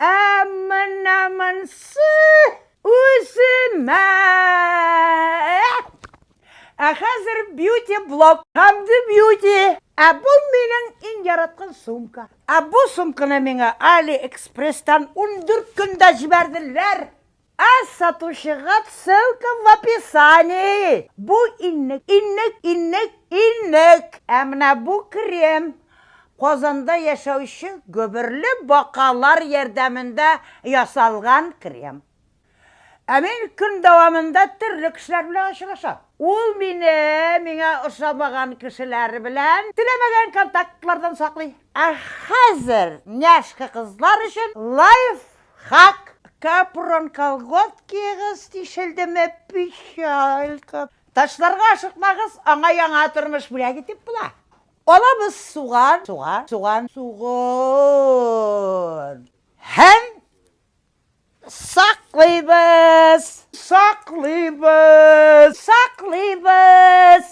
Ә менә монсы үземә! Ә хәзер бьюти блок. Хамды бьюти. Ә бу минең иң яраткан сумка. Ә бу сумканы миңа Алиэкспресстан ундүрт көндә җибәрделәр. Ә сатучыга ссылка в описании. Бу иннек, иннек, иннек, иннек. Ә менә бу крем Казанда яшәүче гөберле бакалар ярдәмендә ясалган крем. Ә мин көн дәвамында төрле кешеләр белән очрашам. Ул мине миңа ошамаган кешеләр белән теләмәгән контактлардан саклый. Ә хәзер няшка кызлар өчен лайф Хак капрон колготкигыз тишелдеме печалька. Ташларга ашыкмагыз, аңа яңа тормыш бүләк итеп була. Алабыз суган, суган, суган, суган. Һәм саклыйбыз. Саклыйбыз. Саклыйбыз.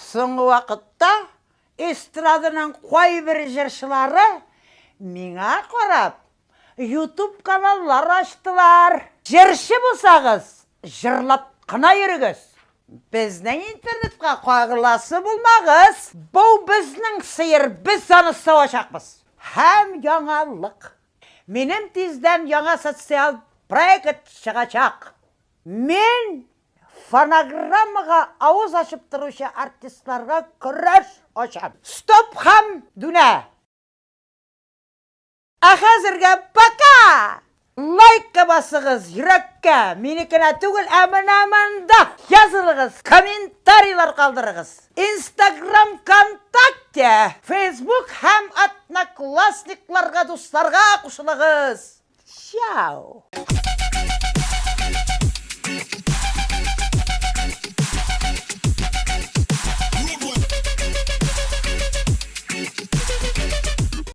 Соңгы вакытта эстраданың кайбер җырчылары миңа карап Ютуб каналлар ачтылар. Җырчы булсагыз, җырлап кына йөрегез. Безнең интернетка кагыласы булмагыз. Бу безнең сыер, без аны савачакбыз. Һәм яңалык. Минем тиздән яңа социаль проект чыгачак. Мин фонограммага авыз ачып торучы артистларга көрәш ачам. Стоп һәм дүнә! Ә хәзергә пока! Лайкка басыгыз, йөрәккә, минекенә түгел, ә менә монда! Язылыгыз, комментарийлар калдырыгыз! Инстаграм, Вконтакте, Фейсбук һәм Одноклассникларга дусларга кушылыгыз! Чао!